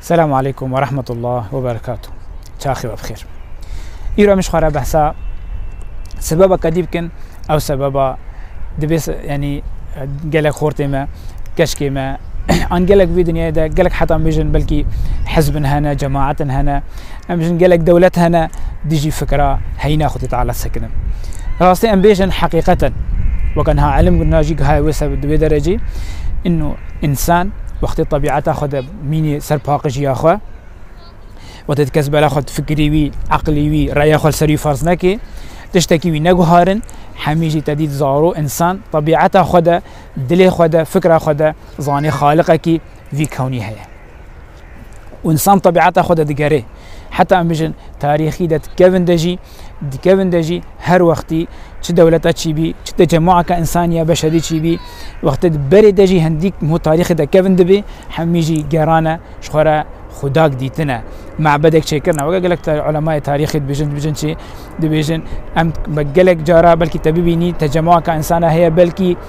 Selamu aleykum ve rahmetullah ve berekatu. Çaxi ve bixêr. Îro em ji xwe re behsa sebeba kedî bikin ew sebeba dibê yanî gelek xortê me keşkê me an gelek vî dinyayê de gelek heta mijin belkî hizbin hene cemaetin hene em jin gelek dewlet hene dijî fikra heyna xwedî teala sekinin rastî em bêjin heqîqeten weke niha elim najî gihaya wê se di wê derecî Însan wextê tebîeta xwe de mînî ser paqijiya xwe, wextê di kes bera xwe di fikirî wî, eqlî wî, reya xwe li ser wî ferz nekê, tiştekî wî neguharin, hemî jî te dît zaro însan tebîeta xwe de, dilê xwe de, fikra xwe de zanê xaliqekî vî kewnî heye. û însan tebîata xwe de digerê. Heta em bijin tarîxî de dikevin de jî dikevin de jî her wextî çi dewleta çî bî, çi tecemûaka însanî ya beşerî çî bî, wextê di berê de jî hendîk mû tarîxê de kevin dibî, hemî jî gerane ji xwe re xudak dîtine. Mebedek çêkirine weke gelek ulemayê tarîxî dibêjin dibêjin çi dibêjin em gelek cara belkî te bibînî tecemûaka însana heye belkî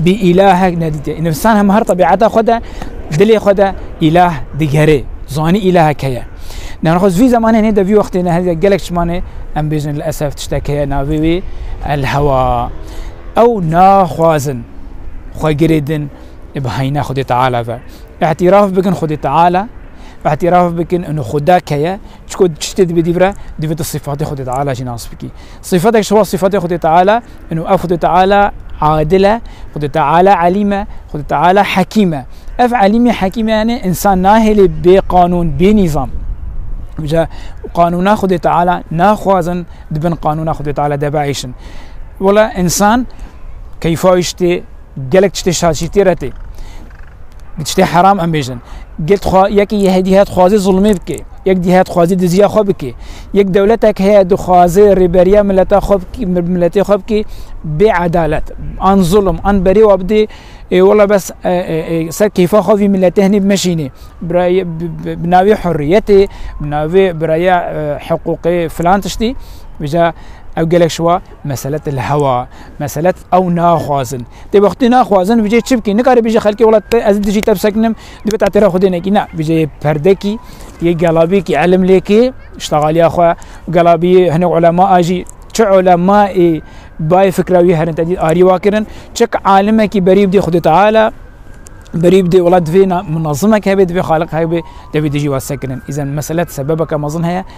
bî îlahek nedîtiye. Însan hem her tebîeta xwe de dilê xwe de îlah digerê. Zanî îlahek heye. Nexwe vî zemanê nê de vî wextê ne hezek gelek çimanê em bêjin li esef tiştek heye navê wê el hewa. Ew naxwazin xwe girê din bi heyna Xwedê Teala ve. Îhtîraf bikin Xwedê Teala, îhtîraf bikin û xuda keye Çiko çiştê dibe dî vire divê tu sifatê Xwedê Teala jî nas bikî. Sifatek ji wan sifatê Xwedê Teala in û ev Xwedê Teala adil e, Xwedê Teala elîm e, Xwedê Teala hekîm e. Ev elîmê hekîmê yanê însan nahêlê bê qanûn, bê nîzam. Îja qanûna Xwedê Teala naxwazin di bin qanûna Xwedê Teala de biêşin. Wela însan keyfa îştê Gelek tiştê şaşîrtî re tê. Bi tiştê heram em bêjin. Gel xwe yekê yehê dî het xwazê zulmê bike. Yek dî het xwazê diziya xwe bike. Yek dewletek heye dixwaze rêberiya mileta xwe bike, miletê xwe bike bê edalet. An zulm, an berê wa bidê ê wela bes ser keyfa xwe vî miletê hinî bimeşînê. Birayê bi navê hurriyetê, bi navê biraya hiqûqê filan tiştî. Vêca ew gelek şiwa mesele te li hewa. Meselet ew naxwazin. Tê wextê naxwazin vijê çi bikî? Nikarê bijî xelkê wela ez dijî te bisekinim, dibe te têra xudê nekî. Ne, vijê yê perdekî, yê gelabî kî elim lêkê, ştexaliya xwe, gelabî hinek ulema a jî çi ulema ê bayê fikra wî herin tedî arî wa kirin, çik alimekî berî bidê xudê Teala, berî bidê wela divê munazimek hebê, divê xaliq hebê, devê dijî wa sekirin. Îzen meselet sebebeke mezin heye.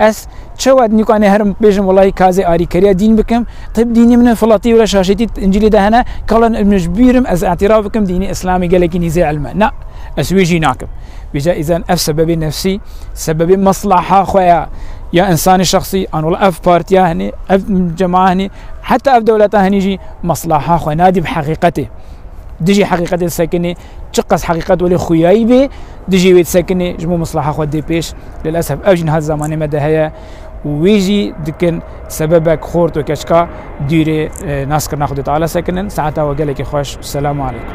Ez çewa nîka neherim bêjim welaî kazê arîkeriya dîn bikim? Tib dînê min e, filatî were şaşêtî Încîlê de hene, kalan min ji bîr im, ez îtiraf bikim dînê îslamî gelekî nîzê îlm e. Na, ez wê jî nakim. Bêje îzan ev sebebê nefsî, sebebê mesleha xwe ya, ya însanê şexsî, an wela ev partiya hinî, ev cema hinî, heta ev dewleta hinî jî mesleha xwe nadî bi heqîqetê. Dijî heqîqetê sekinê, Çi qas heqîqet welê xuyayî bê dijî wê disekinê ji bo misleha xwe dê pêş. Lilesef ev jî niha di zamanê me de heye û wê jî dikin sebebek xort û keçka dûrê naskirina xwe dê teala sekinin. Saeta we gelekî xweş. Selamu aleykum.